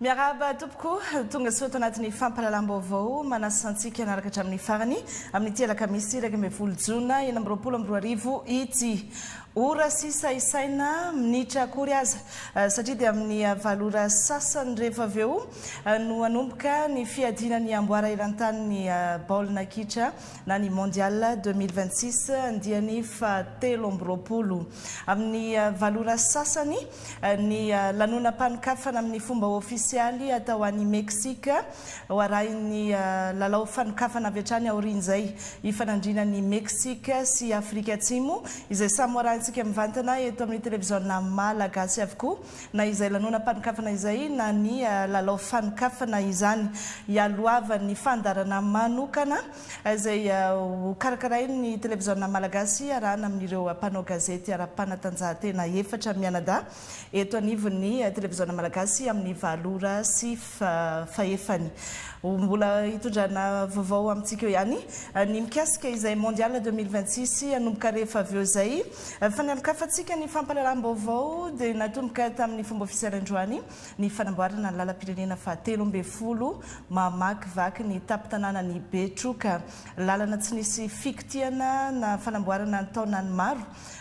Miarahaba tompoko, tonga soa ato anatin'ny fampahalalam-baovao manasa antsika hanaraka hatramin'ny farany amin'ity alakamisy iraika ambin'ny folo jona enina amby roapolo amby roa arivo ity. Ora sisa isaina minitra akory aza eh, satria dia amin'ny valo ora sasany rehefa avy eo eh, no hanomboka ny fiadiana ny amboara eran-tanin'ny eh, baolina kitra na ny Mondial 2026 andiany fahatelo amby roapolo. Amin'ny valo ora sasany ny lanonam-panokafana amin'ny fomba ofisialy atao any Meksika, ho arahin'ny lalao fanokafana avy hatrany aorian'izay hifanandriana ny Meksika sy Afrika Atsimo, izay samy ho arahintsika mivantana eto amin'ny televiziona Malagasy avokoa, na izay lanonam-panokafana izay na ny lalao fanokafana izany. Hialohavan'ny fandaharana manokana izay hokarakarain'ny Televiziona Malagasy hiarahana amin'ireo mpanao gazety ara-panatanjahantena efatra mianadahy eto anivon'ny Televiziona Malagasy amin'ny valo ora sy fahefany. Ho mbola hitondrana vaovao amintsika eo ihany ny mikasika izay Mondial deux mille vingt-six hanomboka rehefa avy eo izay. Fa ny amin-kafantsika ny fampahalalam-baovao dia natomboka tamin'ny fomba ofisialy androany. ny fanamboarana ny lalam-pirenena fahatelo ambin'ny folo mamakivaky ny tampon-tanànan'i Betroka. Lalana tsy nisy fikotihana na fanamboarana an-taonany maro.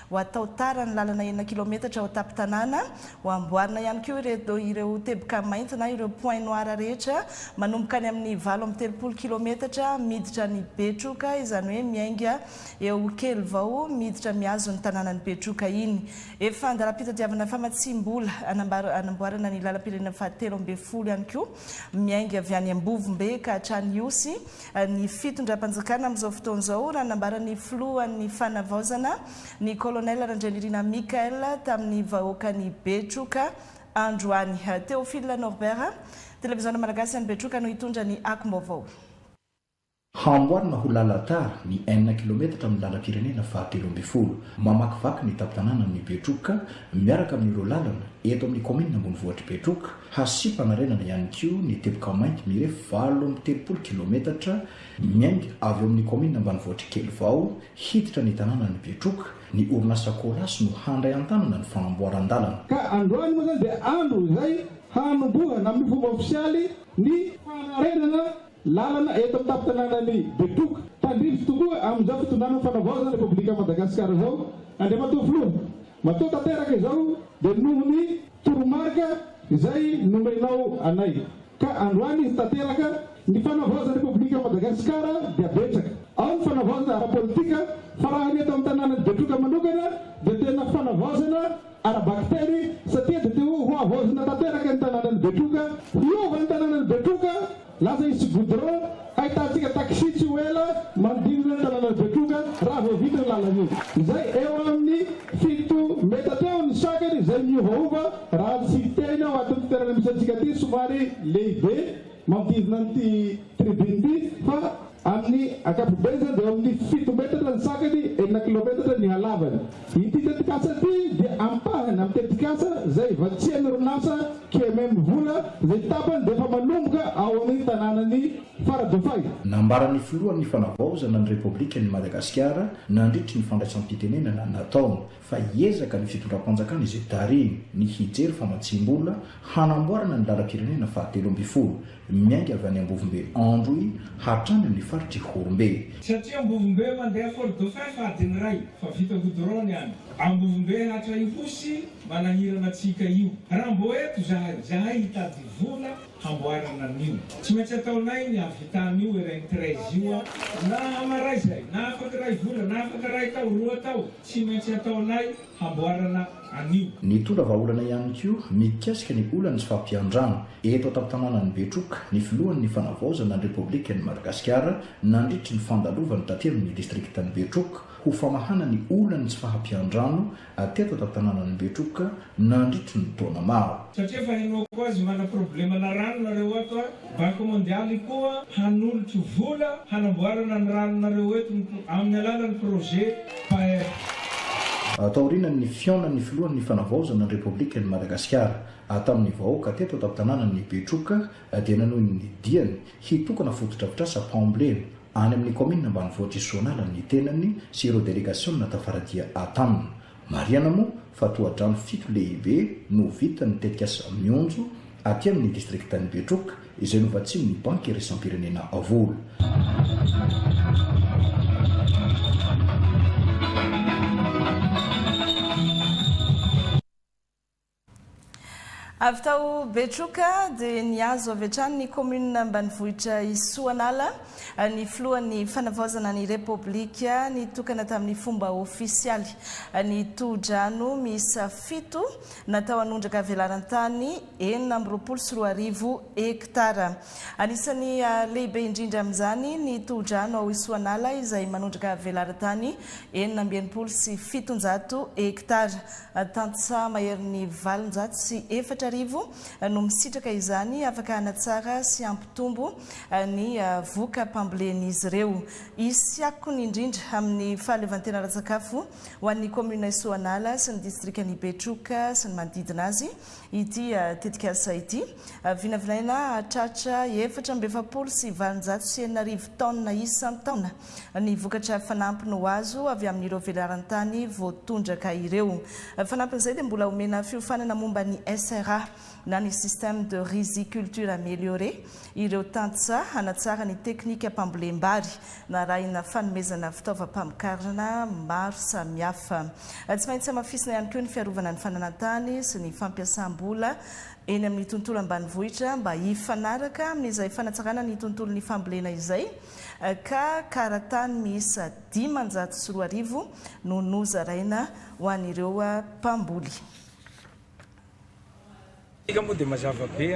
Ho atao tara ny lalana enina kilaometatra ao an-tampon-tanàna. Ho amboarina ihany koa ireo teboka mainty na ireo points noirs rehetra manomboka any amin'ny valo amby telopolo kilaometatra miditra any Betroka, izany hoe miainga eo kely vao miditra mihazo ny tanànan'i Betroka iny. Efa an-dalam-pitadiavana famatsiam-bola hanamboarana ny lalam-pirenena fahatelo ambin'ny folo ihany koa, miainga avy any Ambovombe ka hatrany Ihosy, ny fitondram-panjakana amin'izao fotoana izao, raha nambaran'ny filohan'ny Fanavaozana, ny Colonel Randrianirina Michael, tamin'ny vahoakan'i Betroka androany. Théophile Norbert, Televiziona Malagasy any Betroka no hitondra ny akom-baovao. Hamboarina ho lalan-tara ny enina kilaometatra amin'ny lalam-pirenena fahatelo ambin'ny folo mamakivaky ny tampon-tanànan'i Betroka miaraka amin'ireo lalana eto amin'ny kaominina ambonivohitr'i Betroka. Hasiam-panarenana ihany koa ny teboka mainty mirefy valo amby telopolo kilaometatra miainga avy ao amin'ny kaominina ambanivohitr'i Kelivao hiditra ny tanànan'i Betroka ny orinasa Colas no handray an-tanana ny fanamboaran-dalana. Ka androany moa izany dia andro izay hanombohana amin'ny fomba ofisialy ny fanarenana Lalana eto amin'ny tampon-tanànan'i Betroka. Tandrify tokoa amin'izao fitondrana mifanavaozan'ny Repoblikan'i Madagasikara izao Andriamatoa Filoha. Matoa tanteraka izao dia noho ny toromarika izay nomenao anay. Ka androany izy tanteraka. Ny fanavaozan'ny Repoblikan'i Madagasikara dia betsaka. Ao ny fanavaozana ara-politika, fa raha ny eto amin'ny tanànan'i Betroka manokana dia tena fanavaozana ara-bakiteny satria dia te ho havaozina tanteraka ny tanànan'i Betroka. Hiova ny tanànan'i Betroka, lasa hisy goudron, hahitantsika taxi tsy ho ela manodidina ny tanànan'i Betroka raha vao vita io lalana io, izay eo amin'ny fito metatra eo ny sakany izay miovaova raha tsy tehina ao atin'ity tanàna misy antsika ity somary lehibe manodidina an'ity tribune ity fa Amin'ny ankapobeny izany dia eo amin'ny fito metatra ny sakany, enina kilaometatra ny halavany. Ity tetikasa ity dia ampahany amin'ny tetikasa izay ivatsian'ny orinasa QMM Vola izay tapany dia efa manomboka ao amin'ny tanànan'i Faradofay. Nambaran'ny filohan'ny Fanavaozana ny Repoblikan'i Madagasikara nandritry ny fandraisam-pitenenana nataony fa hiezaka ny fitondram-panjakana izay tarihiny ny hijery famatsiam-bola hanamboarana ny lalam-pirenena fahatelo ambin'ny folo miainga avy any Ambovombe Androy hatrany amin'ny faritr' Ihorombe. Satria Ambovombe mandeha Fort Dauphin fadiny iray fa vita goudron ny any Ambovombe hatra Ihosy manahirana antsika io. Raha mbô eto zahay, zahay hitady vola hamboarana an'io. Tsy maintsy ataonay ny hahavita an'io Erain treize io an! Na hamaray izay, na afaka iray vola, na afaka iray tao, roa tao. Tsy maintsy ataonay hamboarana an'io. Nitondra vahaolana ihany koa mikasika ny olan'ny tsy fahampian-drano eto an-tantanànan'i Betroka ny filohan'ny Fanavaozana ny Repoblikan'i Madagasikara nandritry ny fandalovany taty amin'ny distrikan'i Betroka ho famahana ny olan'ny tsy fahampian-drano teto an-tantanànan'i Betroka nandritry ny taona maro. Satria efa henoako azy mana problemana rano nareo ato a! Banque Mondiale koa hanolotro vola hanamboarana ny ranonareo eto ny amin'ny alalan'ny projet PAER. Taorian ny fihaonan'ny filohan ny fanavaozana ny Repoblikan i Madagasikara tamin ny vahoaka teto an-tanànan i Betroka dia nanohy ny diany hitokana fotodrafitrasa mpaomblena any amin ny kaominina ambanivohitr i Soanala ny tenany sy ireo delegasiona tafara dia tamin Marihana moa fa tohadrano fito lehibe no ho vitan'ny tetikasa Mionjo aty amin'ny distrikan'i Betroka izay novatsian'ny Banky iraisam-pirenena vola. Avy tao Betroka dia nihazo avy hatrany ny kaominina ambanivohitra i Soanala ny filohan'ny Fanavaozana ny Repoblika nitokana tamin'ny fomba ofisialy ny tohodrano miisa fito natao hanondraka velaran-tany enina amby roapolo sy roa arivo hektara. Anisan'ny lehibe indrindra amin'izany ny tohodrano ao Soanala izay manondraka velaran-tany enina amby enimpolo sy fitonjato hektara. Tantsaha maherin'ny valonjato sy efatra arivo no misitraka izany, afaka hanatsara sy hampitombo ny voka-pambolen'izy ireo. Hisy akony indrindra amin'ny fahaleovantena ara-tsakafo ho an'ny kaominina Soanala sy ny distrikan'i Betroka sy ny manodidina azy ity tetikasa ity. Vinavinaina hahatratra efatra amby efapolo sy valonjato sy enina arivo taonina isan-taona ny vokatra fanampiny ho azo avy amin'ireo velaran-tany voatondraka ireo. Fanampin'izay dia mbola omena fiofanana momba ny SRA na ny Système de Riziculture Amélioré ireo tantsaha hanatsara ny teknikam-pambolem-bary narahina fanomezana fitaovam-pamokarana maro samihafa. Tsy maintsy hamafisina ihany koa ny fiarovana ny fananan-tany sy ny fampiasam-bola eny amin'ny tontolo ambanivohitra mba hifanaraka amin'izay fanatsarana ny tontolon'ny fambolena izay ka karatany miisa dimanjato sy roa arivo no nozaraina ho an'ireo mpamboly. Isika moa dia mazava be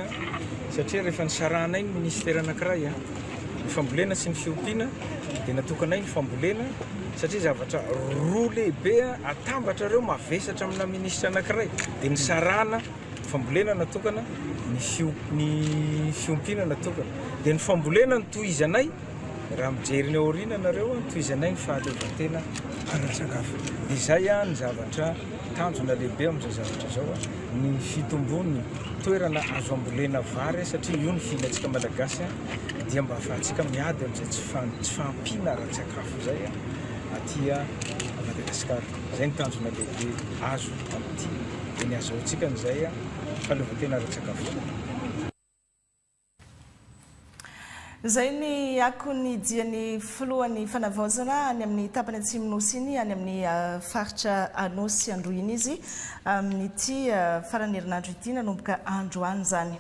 satria rehefa nisarahanay ny minisitera anankiray ny fambolena sy ny fiompiana dia natokanay ny fambolena satria zavatra roa lehibe atambatra ireo mavesatra amina minisitra anankiray dia nisarahana fambolena natokana, ny fio ny fiompiana natokana. Dia ny fambolena no tohizanay, raha mijery ny ao aoriana nareo, tohizanay ny fahaleovantena ara-tsakafo. Dia izay ny zavatra tanjona lehibe amin'izao zavatra izao, ny fitombon'ny toerana azo ambolena vary, satria io ny fihinantsika Malagasy, dia mba ahafahantsika miady amin'izay tsy tsy fahampiana ara-tsakafo izay aty Madagasikara. Izay no tanjona lehibe azo amin'ity. dia ny azahoantsika amin'izay fahaleovantena ara-tsakafo. Izay ny akon'ny dian'ny filohan'ny Fanavaozana any amin'ny tapany atsimon'ny Nosy iny, any amin'ny faritra Anôsy Androhiana izy, amin'ity faran'ny herinandro ity, nanomboka androany izany.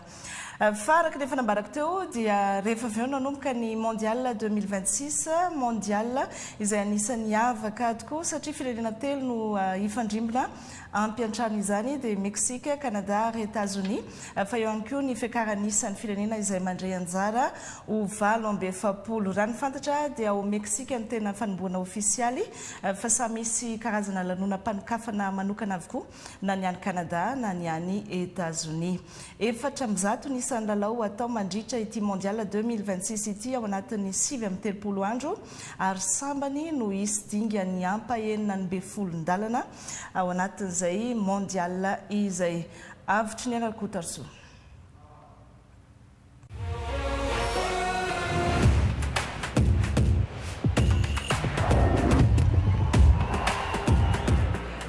Fa araka ny efa nambarako teo dia rehefa avy eo nanomboka ny Mondial deux mille vingt six, Mondial izay anisan'ny hava-kady koa satria firenena telo no hifandrimbona. Ampy hatrany izany dia Meksika, Kanada ary Etazonia, fa eo ihany koa ny fiakaran'ny isan'ny firenena izay mandray anjara ho valo amby efapolo. Raha ny fantatra dia ao Meksika no tena fanombohana ofisialy fa samy misy karazana lanonam-panokafana manokana avokoa na ny any Kanada na ny any Etazonia. Efatra amby zato ny isan'ny lalao atao mandritra ity Mondial deux mille vingt six ity ao anatin'ny sivy amby telopolo andro. ary sambany no hisy dingan'ny ampahenina ny befolon-dalana ao anatin'izay Mondial izay. Avotry ny Rakotarzoa.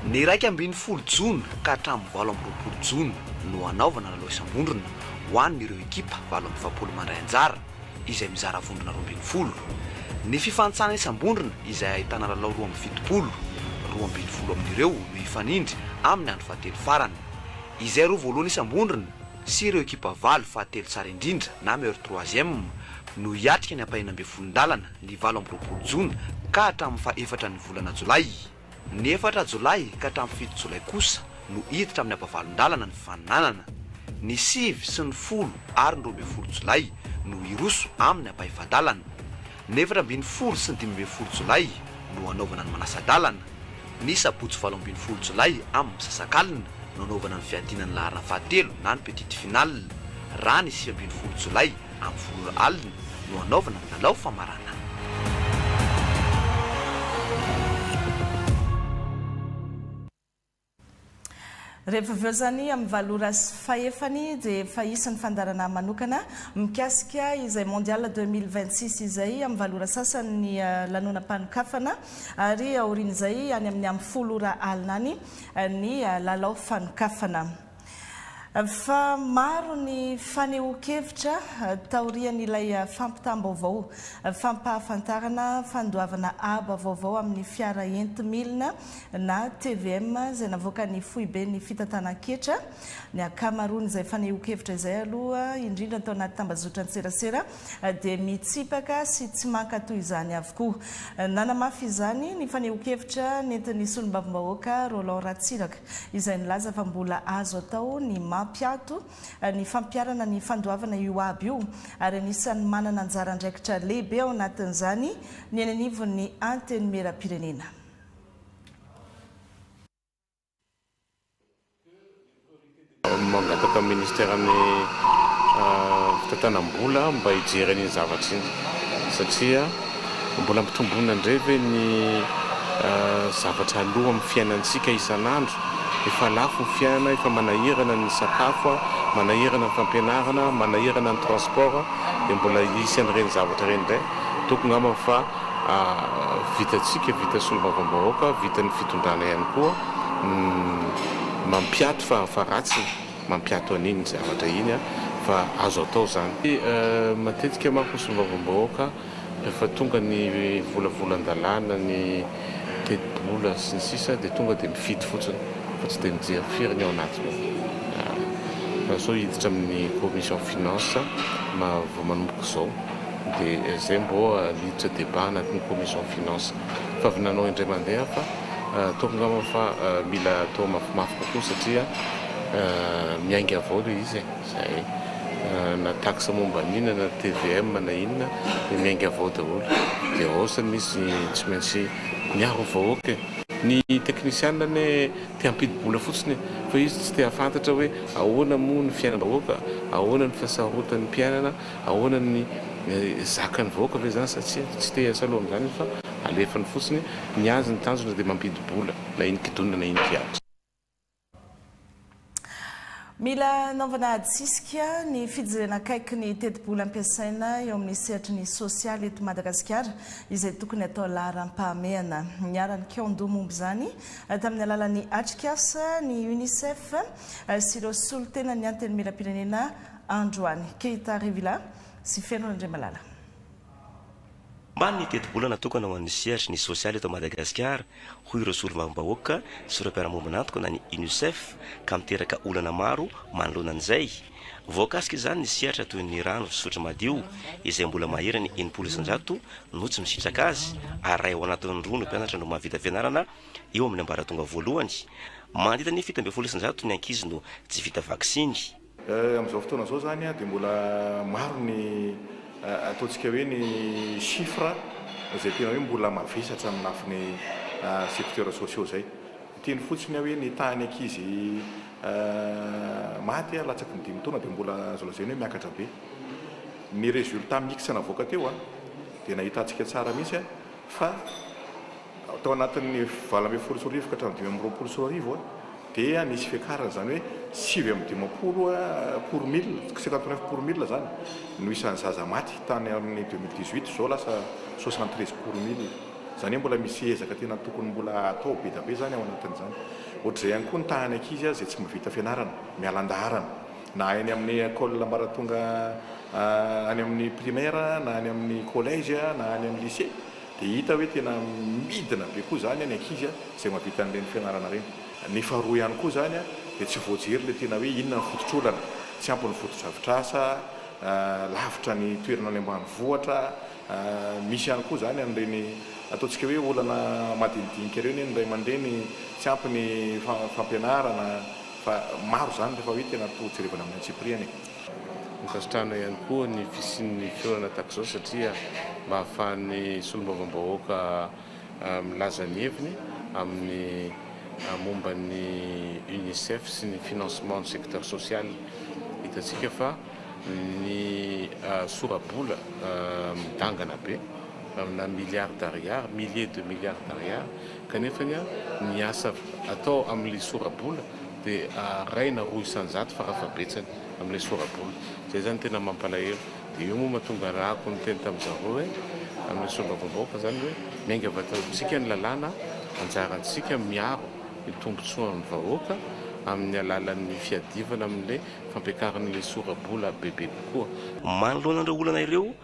Ny iraika ambin'ny folo jona ka hatramin'ny valo amby roapolo jona no hanaovana lalao isam-bondrona ho an'ireo ekipa valo amby efapolo mandray anjara. izay mizara vondrona roa ambin'ny folo. Ny fifantsana isam-bondrona izay ahitana lalao roa amby fitopolo, roa ambin'ny folo amin'ireo no hifanindry amin'ny andro fahatelo farany. Izay roa voalohany isam-bondrona sy ireo ekipa valo fahatelo tsara indrindra na meilleur troisième no hiatrika ny ampahenina ambin'ny folon-dalana ny valo amby roapolo jona ka hatramin'ny faha efatra ny volana jolay. Ny efatra Jolay ka hatramin'ny fito Jolay kosa no hiditra amin'ny ampavalon-dalana ny fananana. Ny sivy sy ny folo ary ny roa ambin'ny folo Jolay no hiroso amin'ny ampahefa-dalana. Ny efatra ambin'ny folo sy ny dimy ambin'ny folo Jolay no hanaovana ny manasa-dalana. Ny sabotsy valo ambin'ny folo Jolay amin'ny misasakalina no hanaovana ny fiadiana ny laharana fahatelo na ny petite finale. Raha ny sivy ambin'ny folo Jolay Amin'ny folo alina no hanaovana ny lalao famaranana. Rehefa avy eo izany amin'ny valo ora sy fahefany dia efa hisy ny fandaharanà manokana mikasika izay Mondial deux mille vingt six izay. Amin'ny valo ora sasany ny lanonam-panokafana ary aorian'izay any amin'ny amin'ny folo ora alina any ny lalao fanokafana. Fa maro ny fanehoan-kevitra taorian'ilay fampitam-baovao fampahafantarana fandoavana aba vaovao amin'ny fiara enti-milina na tvm izay navoakan'ny foiben'ny fitantanan-ketra. Ny ankamaroan'izay fanehoan-kevitra izay aloha indrindra tao anaty tambazotran-tserasera dia mitsipaka sy tsy mankatò izany avokoa. Nanamafy izany ny fanehoan-kevitra nentin'ny solombavambahoaka Roland Ratsiraka, izay nilaza fa mbola azo atao ny mampiato ny fampiharana ny fandoavana io haba io, ary anisan'ny manana anjara andraikitra lehibe ao anatin'izany ny eny anivon'ny Antenimierampirenena. Mangataka amin'ny Ministeran'ny fitantanam-bola mba hijery an'iny zavatra iny satria mbola ampitomboina indray ve ny zavatra aloa amin'ny fiainantsika isan'andro? Efa lafo ny fiainana, efa manahirana ny sakafo, manahirana ny fampianarana, manahirana ny transport dia mbola hisy an'ireny zavatra ireny indray? Toko ngamba fa vitantsika, vitan'ny solombavambahoaka, vitan'ny fitondrana ihany koa ny mampiato fa fa ratsy ny mampiato an'iny zavatra iny fa azo atao izany. Matetika manko ny solombavambahoaka rehefa tonga ny volavolan-dalàna, ny tetibola sy ny sisa dia tonga dia mifidy fotsiny fa tsy dia mijery firy ny ao anatiny ao. Fa sao hiditra amin'ny commission finance ma vao manomboka izao. Dia izay mbô niditra débat anaty ny commission finance fa avy nanao indray mandeha fa ataoko angamba fa mila atao mafimafy kokoa satria miainga avao ilay izy e! Izay na taxe momba ny inona na tvm na inona dia miainga avao daholo dia hausse ny izy tsy maintsy miaro vahoaka e! Ny teknisianina anie te hampidi-bola fotsiny e! Fa izy tsy te hahafantatra hoe ahoana moa ny fiainam-bahoaka, ahoana ny fihasarotan'ny mpiainana Ahoana ny zakan'ny vahoaka ve izany satsia tsy te hiasa loha amin'izany izy fa alefany fotsiny, ny azy ny tanjona dia mampidi-bola na iny kidonina na iny kianja. Mila anaovana adisisika ny fijerena akaiky ny tetibola ampiasaina eo amin'ny sehatry ny sosialy eto Madagasikara izay tokony atao laharam-pahamehana. Niharan'ny kaon-doha momba izany tamin'ny alalan'ny Atrikasa ny Unicef sy ireo solotenan'ny Antenimierampirenena androany. Keita Rivila sy Feno Randriamalala. Omaly ny tetibola natokana ho an'ny sehatry ny sosialy eto Madagasikara, hoy ireo solombavambahoaka sy ireo mpiara-miombon'antoka na ny Unicef ka miteraka olana maro manoloana an'izay. Voakasika izany ny sehatra toy ny rano fisotro madio izay mbola maherany enimpolo isanjato no tsy misitraka azy ary iray ao anatin'ny roa ny mpianatra no mahavita fianarana eo amin'ny ambaratonga voalohany. Mandidina ny fito ambin'ny folo isanjato ny ankizy no tsy vita vaksiny. Amin'izao fotoana izao izany dia mbola maro ny ataontsika hoe ny chiffres izay tena hoe mbola mavesatra amin'ny lafiny secteurs sociaux izay. Hiteny fotsiny aho hoe ny tahan'ny ankizy maty latsaky ny dimy taona dia mbola azo lazaina hoe miakatra be. Ny résultat mix navoaka teo dia nahitantsika tsara mihitsy fa tao anatin'ny valo ambin'ny folo sy roa arivo ka hatramin'ny dimy amby roapolo sy roa arivo dia nisy fiakarana, izany hoe sivy amby dimampolo pour mille, cinquante neuf pour mille izany no isan'ny zaza maty tany amin'ny deux mille dix huit, izao lasa soixante treize pour mille. Izany hoe mbola misy ezaka tena tokony mbola atao be dia be izany ao anatin'izany. Ohatr'izay ihany koa ny tahan'ny ankizy izay tsy mahavita fianarana, miala an-daharana. na eny amin'ny ecole ambaratonga any amin'ny primaire na any amin'ny collège na any amin'ny lycée dia hita hoe tena midina be koa izany ny ankizy izay mahavita an'ireny fianarana ireny. Ny faharoa ihany koa izany dia tsy voajery ilay tena hoe inona ny fototr'olana, tsy ampy ny fotodrafitrasa, lavitra ny toerana any ambanivohitra, misy ihany koa izany an'ireny ataontsika hoe olana madinidinika ireny hoe ny ray aman-dreny tsy ampy ny fampianarana, Fa maro izany rehefa hoe tena toa jerevana amin'ny antsipiriany e. Nonkasitrahana ihany koa ny fisian'ny fiorana tahaka izao satria mba ahafahan'ny solombavambahoaka milaza ny heviny amin'ny momba ny Unicef sy ny financement ny secteur social. Hitantsika fa ny sora-bola midangana be amina milliards d'ariards, milliers de milliards d'ariards, Kanefa ny ahy, ny asa atao amin'ilay sora-bola dia araina roa isan-jato fara-fahabetsany amin'ilay sora-bola. Izay izany tena mampalahelo. Dia io moa mahatonga ny ràko niteny tamin'i zareo hoe, amin'ilay solombavambahoaka izany hoe, miainga avy ato amintsika ny lalàna, anjarantsika miaro ny tombontsoan'ny vahoaka amin'ny alalan'ny fiadivana amin'ilay fampiakaran'ilay sora-bola bebe kokoa. Manoloana ireo olana ireo,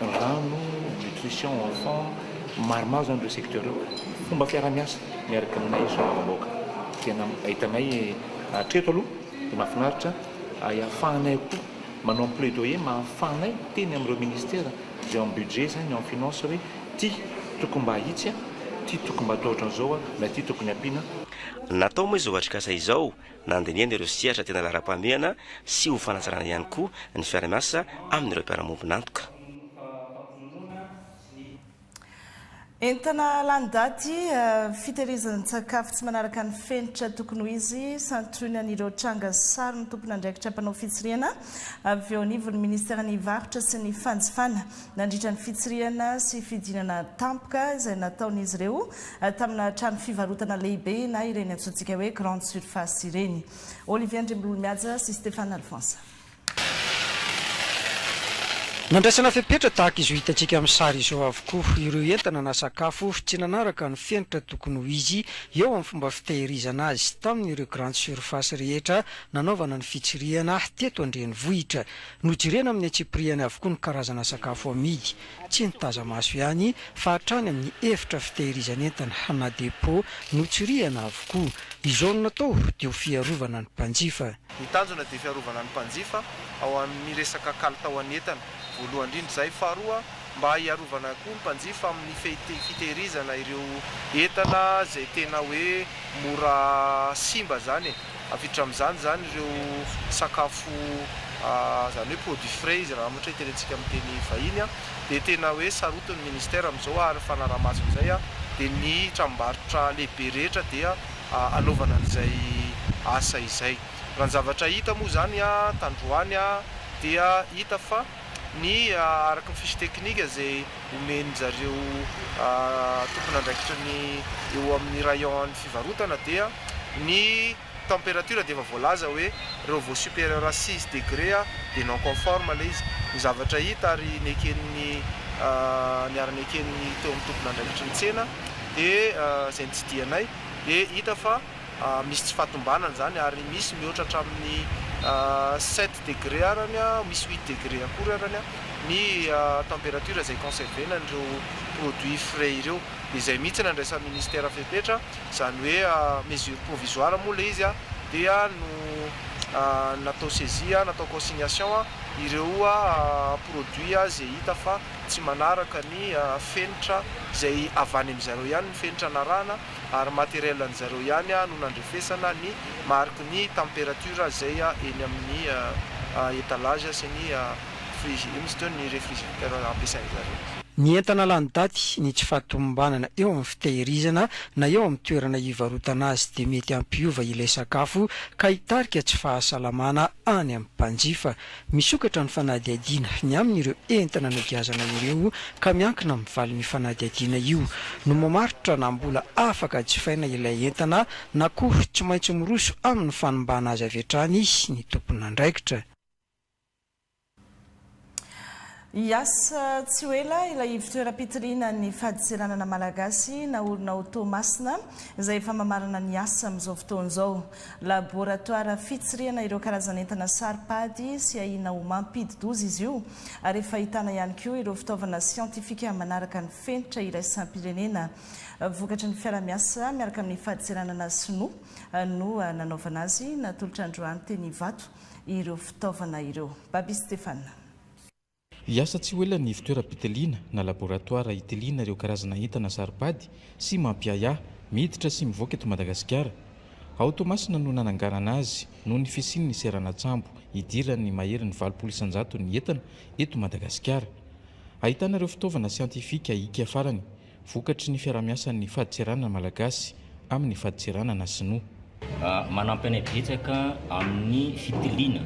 rano, nutrition enfant, maromaro zany ireo secteur ireo, fomba fiarahamiasa miaraka aminay solombavambahoaka, tena ahitanay hatreto aloha dia mahafinaritra ary ahafahanay koa manao ny plaidoyer mba ahafahanay miteny amin'ireo ministera izay ao amin'ny budget zany, ao amin'ny finance hoe ity tokony mba ahitsy an, ity tokony mba atao ohatran'izao an, na ity tokony ampiana. Natao moa izao atrikasa izao Nandinihana ireo sehatra tena laharam-pahamehana sy ho fanatsarana ihany koa ny fiara-miasa amin'ireo mpiara-miombon'antoka. Entana lany daty, fitehirizan-tsakafo tsy manaraka ny fenitra tokony ho izy, santionan'ireo tranga sy sary ny tompon'andraikitra mpanao fitsirihana avy eo anivon'ny minisiteran'ny Varotra sy ny fanjifana. nandritra ny fitsirihana sy fidinana tampoka izay nataon'izy ireo tamina trano fivarotana lehibe na ireny antsointsika hoe grande surface ireny. Olivier Andriambololimihaja sy Stéphane Alphonse. Nandraisana fepetra tahaka izao hitantsika amin'ny sary izao avokoa ireo entana na sakafo tsy nanaraka ny fenitra tokony ho izy eo amin'ny fomba fitehirizana azy tamin'ireo grande surface rehetra nanaovana ny fitsirihana teto an-drenivohitra. Nojerena amin'ny antsipirihany avokoa ny karazana sakafo amidy, tsy ny taza-maso ihany, fa hatrany amin'ny efitra fitehirizan'entana na dépôt, notsirihana avokoa. Izao no natao dia ho fiarovana ny mpanjifa. Ny tanjona dia fiarovana ny mpanjifa ao amin'ny resaka kalitaon'ny entana, voalohany indrindra izay. Faharoa. mba hiarovana koa ny mpanjifa amin'ny fitehirizana ireo entana izay tena hoe mora simba izany e, avititra amin'izany izany ireo sakafo izany hoe produits frais izy raha ohatra hoe tenentsika amin'ny teny vahiny an, dia tena hoe sarotin'ny ministera amin'izao ary fanaraha-maso amin'izay an, dia ny tranombarotra lehibe rehetra dia hanaovana an'izay asa izay. Raha ny zavatra hita moa izany an, tandroany an, dia hita fa. ny araka ny fiche technique izay omen'ny zareo tompon'andraikitra ny eo amin'ny rayon an'ny fivarotana dia ny temperature dia efa voalaza hoe reo vao superieur à six degre dia non conforme ilay izy, ny zavatra hita ary neken'ny niara-neken'ny teo amin'ny tompon'andraikitry ny tsena dia izay nitsidihanaay dia hita fa. Misy tsy fahatombanana izany ary misy mihoatra hatramin'ny sept degre arany, misy huit degre akory arany ny temperature izay conserver-na an'ireo produits frais ireo. Dia izay mihitsy no andraisan'ny Ministera fepetra, izany hoe mesure provisoire moa ilay izy, dia no natao saisie, natao consignation ireo produits izay hita fa tsy manaraka ny fenitra izay avy any amin-dry zareo ihany ny fenitra narahana. ary matériel an'i zareo ihany no nandrefesana ny mariky ny température izay eny amin'ny étalage sy ny fri- ino izy teo, ny réfrigérateur ampiasain'i zareo. Ny entana lany daty, ny tsy fahatomombanana eo amin'ny fitehirizana na eo amin'ny toerana ivarotana azy dia mety hampiova ilay sakafo ka hitarika tsy fahasalamana any amin'ny mpanjifa. Misokatra ny fanadihadiana ny amin'ireo entana nogiazana ireo ka miankina amin'ny valin'io fanadihadiana io no mamaritra na mbola afaka jifaina ilay entana na koa tsy maintsy miroso amin'ny fanimbàna azy avy hatrany ny tomponandraikitra. Hiasa tsy ho ela ilay ivon-toeram-pitiliana ny fadintseranana malagasy naorina ao Toamasina izay efa mamarana ny asa amin'izao fotoana izao. Laboratoara fitsirihana ireo karazan'entana saro-pady sy ahiana ho mampidi-doza izy io ary efa ahitana ihany koa ireo fitaovana siantifika manaraka ny fenitra iraisam-pirenena vokatry ny fiara-miasa miaraka amin'ny fadintseranana sinoa no nanaovana azy. Natolotra androany teny Ivato ireo fitaovana ireo. Baby Stéphane. Hiasa tsy ho ela ny fitoeram-pitiliana na laboratoara hitiliana ireo karazana entana saro-pady sy mampiahiahy miditra sy mivoaka eto Madagasikara. Ao Toamasina no nananganana azy noho ny fisian'ny seranan-tsambo idiran'ny mahery ny valopolo isan-jaton'ny entana eto Madagasikara. Ahitana ireo fitaovana siantifika hiaka farany. Vokatry ny fiaraha-miasan'ny fadintseranana malagasy amin'ny fadintseranana sinoa. Manampy anay betsaka amin'ny fitiliana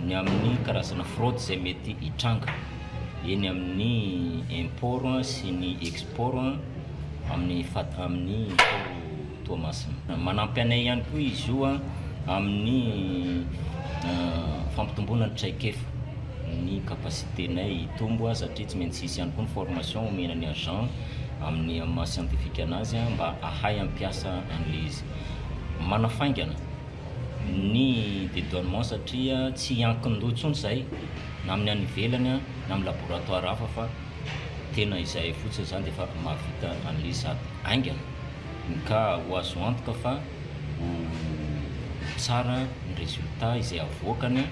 ny amin'ny karazana fraude izay mety hitranga eny amin'ny import sy ny export amin'ny fad- amin'ny port Toamasina. Manampy anay ihany koa izy io amin'ny fampitomboana ny traikefa. ny capacité-nay hitombo a, satria tsy maintsy hisy ihany koa ny formation omena ny agent amin'ny amin'ny maha scientifique anazy a, mba hahay hampiasa an'ilay izy. Manafaingana ny dédouanement satria tsy hiankin-doha intsony izay na amin'ny any ivelany a, na amin'ny laboratoire hafa fa tena izay fotsiny, izany dia efa mahavita an'ilay izy sady haingana. Ka ho azo antoka fa ho tsara ny résultat izay havoakany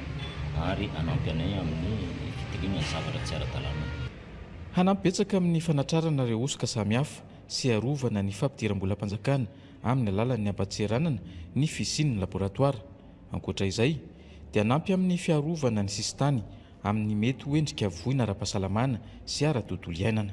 ary hanampy anay amin'ny fitiliana ny zavatra tsy ara-dalàna. Hanampy betsaka amin'ny fanatrarana ireo hosoka samihafa sy harovana ny fampidiram-bolam-panjakana amin'ny alalan'ny hampatseranana ny fisian'ny laboratoara. Ankoatra izay, dia hanampy amin'ny fiarovana ny sisintany amin'ny mety ho endrika voina ara-pahasalamana sy ara-tontolo iainana.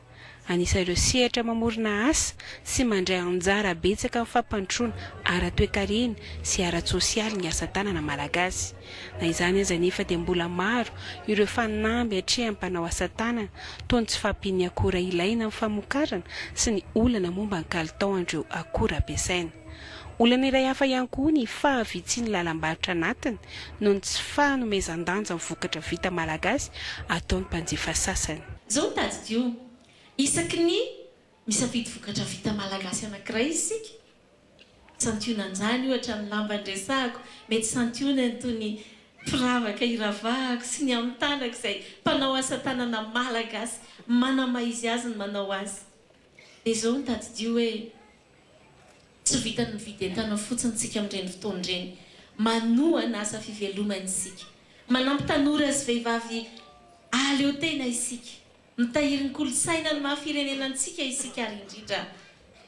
Anisan' ireo sehatra mamorona asa sy mandray anjara betsaka amin'ny fampandrosoana ara-toekarena sy ara-tsosialy ny asa tanana malagasy. Na izany aza anefa dia mbola maro ireo fanamby atrehan'ny mpanao asa tanana toa ny tsy fahampian'ny akora ilaina amin'ny famokarana sy ny olana momba ny kalitaon'ireo akora ampiasaina. Olana iray hafa ihany koa ny fahavitsian'ny lalam-barotra anatiny noho ny tsy fanomezan-danja ny vokatra vita malagasy ataon'ny mpanjifa sasany. Izao no tadidio, isaky ny misafidy vokatra vita malagasy anankiray isika, santionan-jany ohatra ny lamba niresahako, mety santionany toy ny firavaka iravahako sy ny amin'ny tanako izay mpanao asa tanana malagasy manamaha izy azy ny manao azy. Dia izao no tadidio hoe. Tsy vitan'ny mividy entana fotsiny isika amin'ireny fotoana ireny. Manohana asa fivelomana isika. Manampy tanora sy vehivavy hahaleo tena isika. Mitahiry ny kolontsaina ny maha firenena antsika isika ary indrindra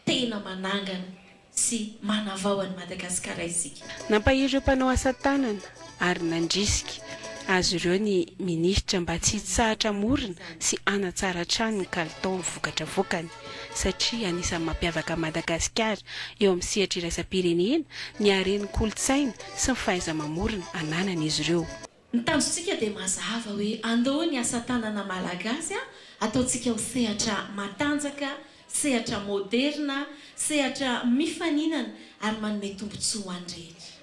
tena manangana sy manavao an'i Madagasikara isika. Nampahery ireo mpanao asa tanana. ary nandrisika azy ireo ny minisitra mba tsy hitsahatra hamorona sy hanatsara hatrany ny kalitao amin'ny vokatra avoakany satria anisan'ny mampiavaka an'i Madagasikara eo amin'ny sehatra iraisam-pirenena ny haren'ny kolontsaina sy ny fahaiza-mamorona ananan'izy ireo. Ny tanjontsika dia mazava hoe andoha ny asa tanana malagasy ataontsika ho sehatra matanjaka, sehatra moderina, sehatra mifaninana ary manome tombontsoa ho an'ny rehetra.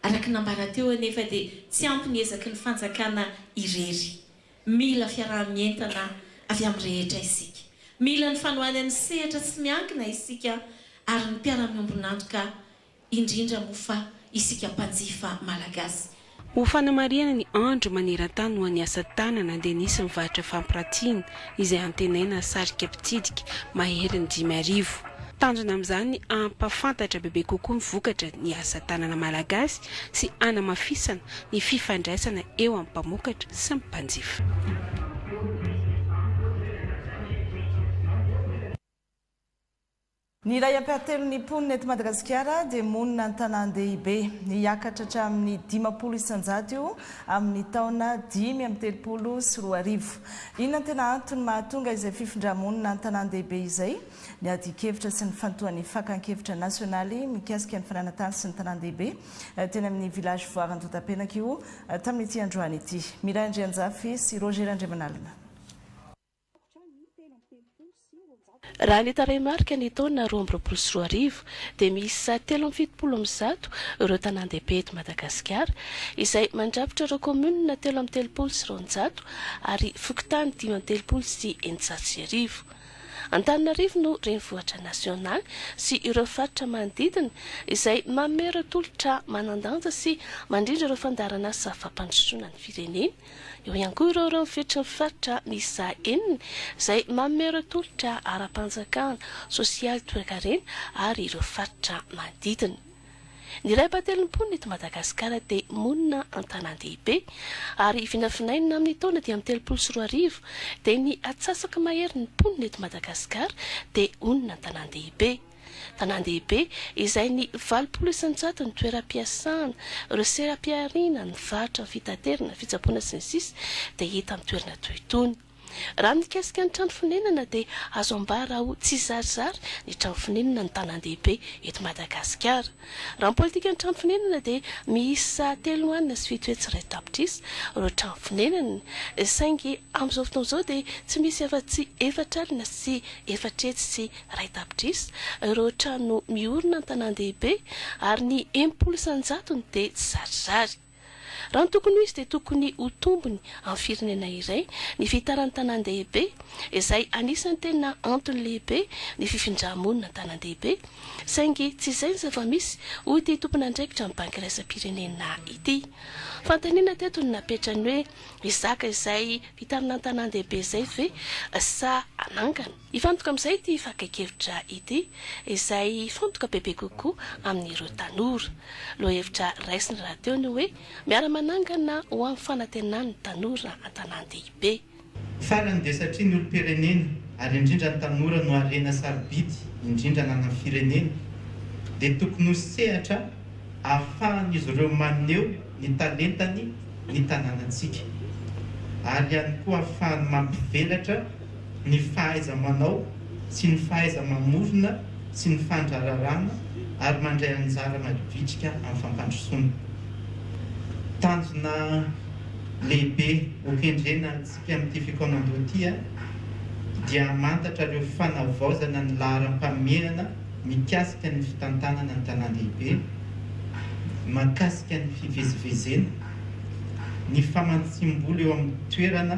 Araka ny nambara teo anefa dia tsy ampy ny ezaky ny fanjakana irery. Mila fiaraha-mientana avy amin'ny rehetra isika. Mila ny fanohanan'ny sehatra tsy miankina isika ary ny mpiara-miombon'antoka indrindra moa fa isika mpanjifa malagasy. Ho fanamarihana ny andro maneran-tany ho an'ny asa tanana dia nisy ny varotra fampiratiana izay antenaina sarika mpitsidika maherin'ny dimy arivo. Tanjona amin'izany hampahafantatra bebe kokoa ny vokatra ny asa tanana malagasy sy hanamafisana ny fifandraisana eo amin'ny mpamokatra sy ny mpanjifa. Ny iray ampiharitelon'ny mponina eto Madagasikara dia monina an-tanàn-dehibe. Hiakatra hatramin'ny dimampolo isanjato io amin'ny taona dimy amby telopolo sy roa arivo. Inona no tena antony mahatonga izay fifindrà-monina an-tanàn-dehibe izay? Ny adin-kevitra sy ny fantohan'ny fakan-kevitra nasionaly mikasika ny fananan-tany sy ny tanàn-dehibe teny amin'ny Village Voire Andohatapenaka io tamin'ity androany ity. Miray Andrianjafy sy Roger Randriamanalina. Raha ny tarehimarika ny taona roa amby roapolo sy roa arivo dia miisa telo amby fitopolo amin'ny zato ireo tanàn-dehibe eto Madagasikara izay mandrafitra ireo kaominina telo amby telopolo sy roanjato ary fokontany dimy amby telopolo sy eninjato sy arivo. Antananarivo no renivohitra nasionaly sy ireo faritra manodidina izay manome ireo tolotra manan-danja sy mandrindra ireo fandaharanasa fampandrosoana ny firenena. Eo ihany koa ireo renivohitry ny faritra miisa enina izay manome ireo tolotra ara-panjakana, sosialy, toekarena ary ireo faritra manodidina. Ny iray ampahatelon'ny mponina eto Madagasikara dia monina an-tanàn-dehibe ary vinavinaina amin'ny taona dimy amby telopolo sy roa arivo dia ny atsasaka mahery ny mponina eto Madagasikara dia onina an-tanàn-dehibe. Tanàn-dehibe izay ny valopolo isan-jato ny toeram-piasana, ireo seram-pihariana, ny varotra, ny fitaterana, fitsaboana sy ny sisa dia hita amin'ny toerana toy itony. Raha mikasika ny trano fonenana dia azo ambara ho tsizarizary ny trano fonenana ny tanàn-dehibe eto Madagasikara. Raha ny politikan'ny trano fonenana dia miisa telo nohanina sy fito hetsy iray tapitrisa ireo trano fonenana, saingy amin'izao fotoana izao dia tsy misy afa-tsy efatra alina sy efatra hetsy sy iray tapitrisa ireo trano miorina an-tanàn-dehibe ary ny enimpolo isan-jatony dia tsy zarizary. Raha ny tokony ho izy dia tokony ho tombony amin'ny firenena iray ny fihitaran'ny tanàn-dehibe izay anisan'ny tena antony lehibe ny fifindra-monina an-tanàn-dehibe saingy tsy izay ny zava-misy hoy ity tompon'andraikitra ny banky iraisam-pirenena ity. Fanontaniana teto no napetrany hoe hizaka izay fitarina an-tanàn-dehibe izay ve sa hanangana? Hifantoka amin'izay ity fakan-kevitra ity, izay hifantoka bebe kokoa amin'ireo tanora. Lohahevitra raisiny rahateo ny hoe Miara-manangana ho amin'ny fanantenan'ny tanora an-tanàn-dehibe. Farany dia satria ny olom-pirenena, ary indrindra ny tanora no harena sarobidy indrindra ananan'ny firenena, dia tokony ho sehatra ahafahan'izy ireo maneho ny talentany ny tanànantsika, ary ihany koa ahafahany mampivelatra ny fahaiza-manao sy ny fahaiza-mamorona sy ny fandrararana ary mandray anjara mavitrika amin'ny fampandrosoana. Tanjona lehibe hokendrena antsika amin'ity fikaonandoha ity dia hamantatra ireo fanavaozana ny laharam-pahamehana mikasika ny fitantanana ny tanàn-dehibe, mahakasika ny fivezivezena, ny famantsiam-bola eo amin'ny toerana,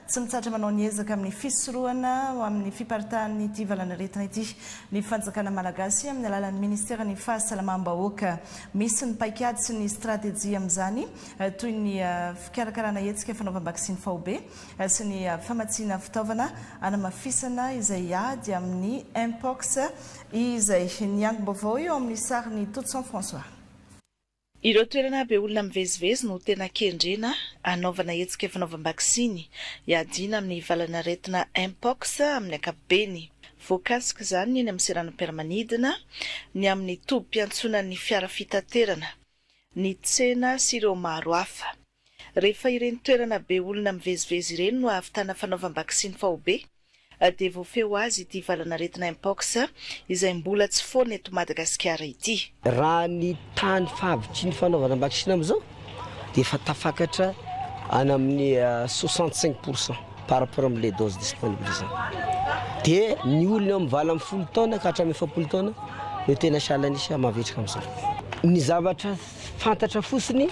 Tsy mitsahatra manao ny ezaka amin'ny fisorohana ho amin'ny fiparitahan'ity valanaretina ity ny fanjakana malagasy amin'ny alalan'ny ministeran'ny fahasalamam-bahoaka. Misy ny paikady sy ny stratejia amin'izany toy ny fikarakarana hetsika fanaovam-baksiny faobe sy ny famatsiana fitaovana hanamafisana izay ady amin'ny Mpox izay. Ny angom-baovao eo amin'ny sarin'i Totson François. Ireo toerana be olona mivezivezy no tena kendrena hanaovana hetsika fanaovam-baksiny hiadiana amin'ny valan'aretina Mpox amin'ny ankapobeny. Voakasik'izany ny eny amin'ny seranam-piaramanidina, ny amin'ny tobim-piantsonan'ny fiara fitaterana, ny tsena sy ireo maro hafa. Rehefa ireny toerana be olona mivezivezy ireny no ahavitana fanaovam-baksiny faobe, dia voafehy ho azy ity valan'aretina Mpox izay mbola tsy foana eto Madagasikara ity. Raha ny tany fahavitriny fanaovana am-baksiny amin'izao dia efa tafakatra any amin'ny soixante cinq pour cent par rapport amin'ny les doses disponibles izany. Dia ny olona eo amin'ny valo ambin'ny folo taona ka hatramin'ny efapolo taona no tena sahala an'isa mavitrika amin'izao. Ny zavatra fantatra fotsiny.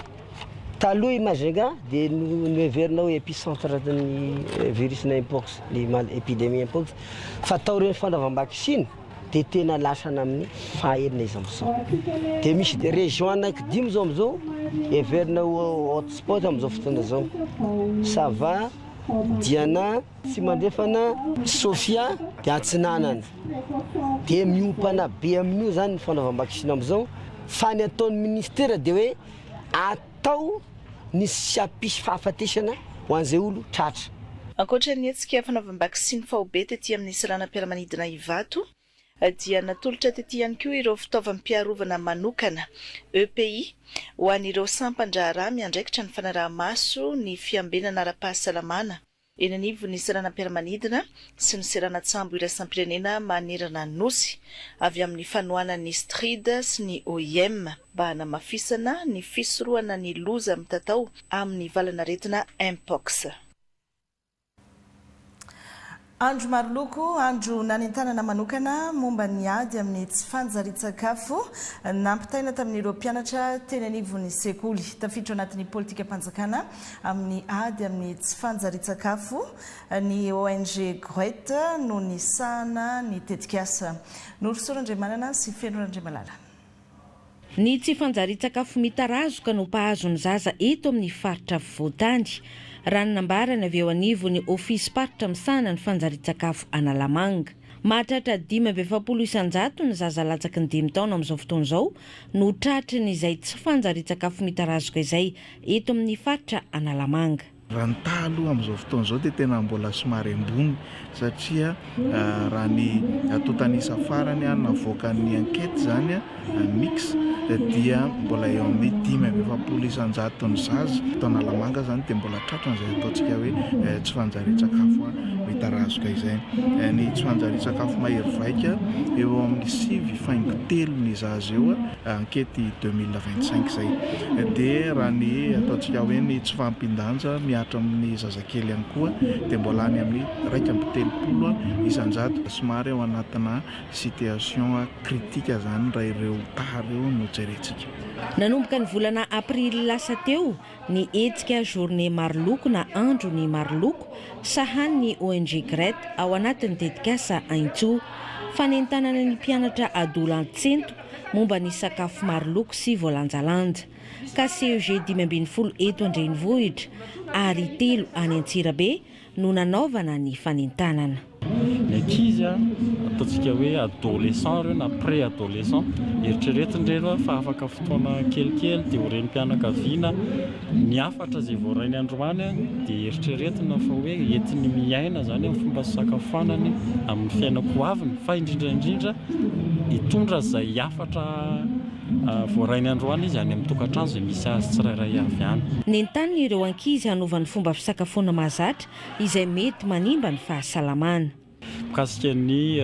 Taloha i Majinga dia noheverina ho epicentre ny virus na mpox, ny epidemie mpox, fa taorian'ny fanaovam-baksiny dia tena lasa namin'ny faha enina izao. Dia misy dia région anaky dimy izao amin'izao heverina ho hot spot amin'izao fotoana izao. Sava, Diana, Tsimandrefana, Sofia dia Atsinanana. Dia miompana be amin'io izany ny fanaovam-baksiny amin'izao, fa ny ataon'ny ministera dia hoe. Atao ny tsy hampisy fahafatesana ho an'izay olo tratra. Ankoatra ny hetsika fanaovam-baksiny faobe tety amin'ny seranam-piaramanidina Ivato dia natolotra tety ihany koa ireo fitaovam-piarovana manokana, EPI, ho an'ireo sampan-draharaha miandraikitra ny fanaraha-maso ny fiambenana ara-pahasalamana. eny anivon'ny seranam-piaramanidina sy ny seranan-tsambo iraisam-pirenena manerana ny Nosy, avy amin'ny fanohanan'ny Strid sy ny OIM, mba hanamafisana ny fisorohana ny loza mitatao amin'ny valan'aretina Mpox. Andro maroloko, andro nanentanana manokana momba ny ady amin'ny tsy fanjarian-tsakafo, nampitaina tamin'ireo mpianatra teny anivon'ny sekoly. Tafiditra ao anatin'ny politikam-panjakana amin'ny ady amin'ny tsy fanjarian-tsakafo, ny ONG Gwet no nisahana ny tetikasa. Norosoa Randriamanana sy Feno Randriamalala. Ny tsy fanjarian-tsakafo mitarazoka no mpahazo ny zaza eto amin'ny faritra afovoan-tany, raha ny nambarany avy eo anivon'ny Ofisy Faritra misahana ny fanjarian-tsakafo Analamanga. Mahatratra dimy amby efapolo isan-jato ny zaza latsaky ny dimy taona amin'izao fotoana izao no tratry ny izay tsy fanjarian-tsakafo mitarazoka izay eto amin'ny faritra Analamanga. Raha ny taha aloha amin'izao fotoana izao dia tena mbola somary ambony satria raha ny tontan'isa farany navoakan'ny enquete izany, mix dia mbola eo amin'ny dimy amby efapolo isan-jaton'ny zaza eto Analamanga izany dia mbola tratran'izay ataontsika hoe tsy fanjarian-tsakafo mitarazoka izay. Ny tsy fanjarian-tsakafo mahery vaika eo amin'ny sivy faingo telo ny zaza eo ankety deux mille vingt cinq izay. Dia raha ny ataontsika hoe ny tsy fahampian-danja mihatra amin'ny zazakely ihany koa dia mbola any amin'ny iraika amby telopolo isan-jato somary ao anatina Situation critique zany raha ireo taha ireo no jerentsika. Nanomboka ny volana aprily lasa teo ny hetsika Journée Maroloko na Andro ny Maroloko, sahan ny ONG Gret ao anatin'ny tetikasa Aintso. Fanentanana ny mpianatra adolantsento momba ny sakafo maroloko sy voalanjalanja. KCEG dimy ambin'ny folo eto an-drenivohitra ary telo any Antsirabe no nanaovana ny fanentanana. Ny ankizy, ataontsika hoe adolescents ireo na pré-adolescents, eritreretin-dreny fa afaka fotoana kelikely dia ho renim-pianakaviana, ny hafatra izay voarainy androany dia eritreretina fa hoe entiny miaina izany amin'ny fomba fisakafoanany amin'ny fiainako ho aviny fa indrindra indrindra hitondra izay hafatra Voarainy androany izy any amin'ny tokantrano izay misy azy tsirairay avy any. Nentaniny ireo ankizy hanova ny fomba fisakafoana mahazatra izay mety manimba ny fahasalamana. Mikasika ny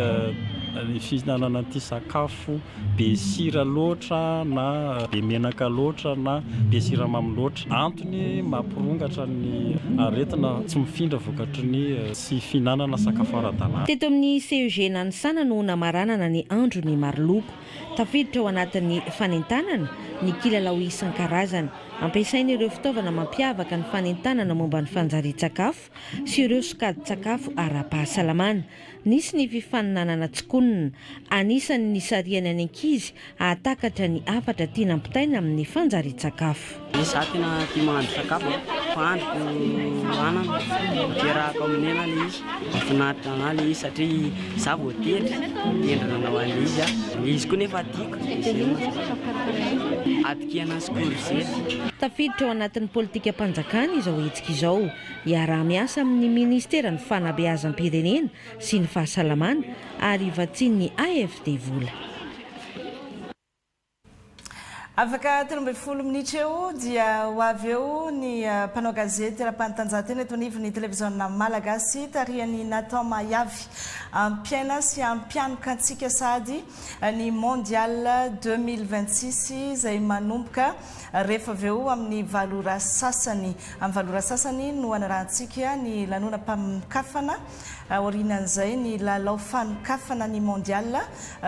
fihinanana an'ity sakafo be sira loatra na be menaka loatra na be siramamy loatra. Antony mampirongatra ny aretina tsy mifindra vokatry ny tsy fihinanana sakafo ara-dalàna. Teto amin'ny CEG Nanisana no namaranana ny andron'ny Maroloko. Tafiditra ao anatin'ny fanentanana ny kilalao isan-karazany. Ampiasaina ireo fitaovana mampiavaka ny fanentanana momba ny fanjarian-tsakafo sy ireo sokajin-tsakafo ara-pahasalamana. Nisy ny fifaninanana tsikonina. Anisan'ny nisarihany ny ankizy hahatakatra ny hafatra tiana ampitaina amin'ny fanjarian-tsakafo. Izaho tena tia mahandro sakafo a, fahandriko anana, ampiarahako amin'ny hena ilay izy, mahafinaritra anah ilay izy satria izaho vao tendry, tendry nanao an'ilay izy aho, ilay izy koa nefa tiako, atin-kena sy korizety. Tafiditra ao anatin'ny politikam-panjakana izao hetsika izao. Hiaraha-miasa amin'ny minisiteran'ny Fanabeazam-pirenena sy ny Fahasalamana ary vatsian'ny AFD vola. Afaka telo ambin'ny folo minitra eo dia ho avy eo ny mpanao gazety ara-panatanjahantena eto anivon'ny televiziona malagasy tarihan'i Nathan Mahiavy. Hampiaina sy hampianoka antsika sahady ny Mondial 2026 izay manomboka rehefa avy eo amin'ny valo ora sasany. Amin'ny valo ora sasany no hanarahantsika ny lanonam-paminokafana aorianan'izay ny lalao fanokafana ny Mondial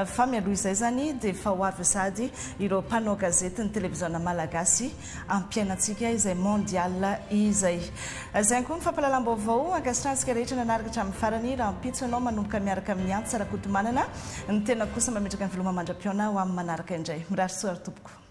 fa mialoha izay izany dia efa ho avy sahady ireo mpanao gazety ny televiziona malagasy ampiainantsika izay Mondial izay. Izay ihany koa ny fampahalalam-baovao ankasitrahantsika rehetra nanaraka hatramin'ny farany rahampitso ianao manomboka miaraka amin'i Antsa Rakotomanana, ny tenako kosa mametraka ny veloma mandra-pihaona ho amin'ny manaraka indray. Mirary soa ary tompoko.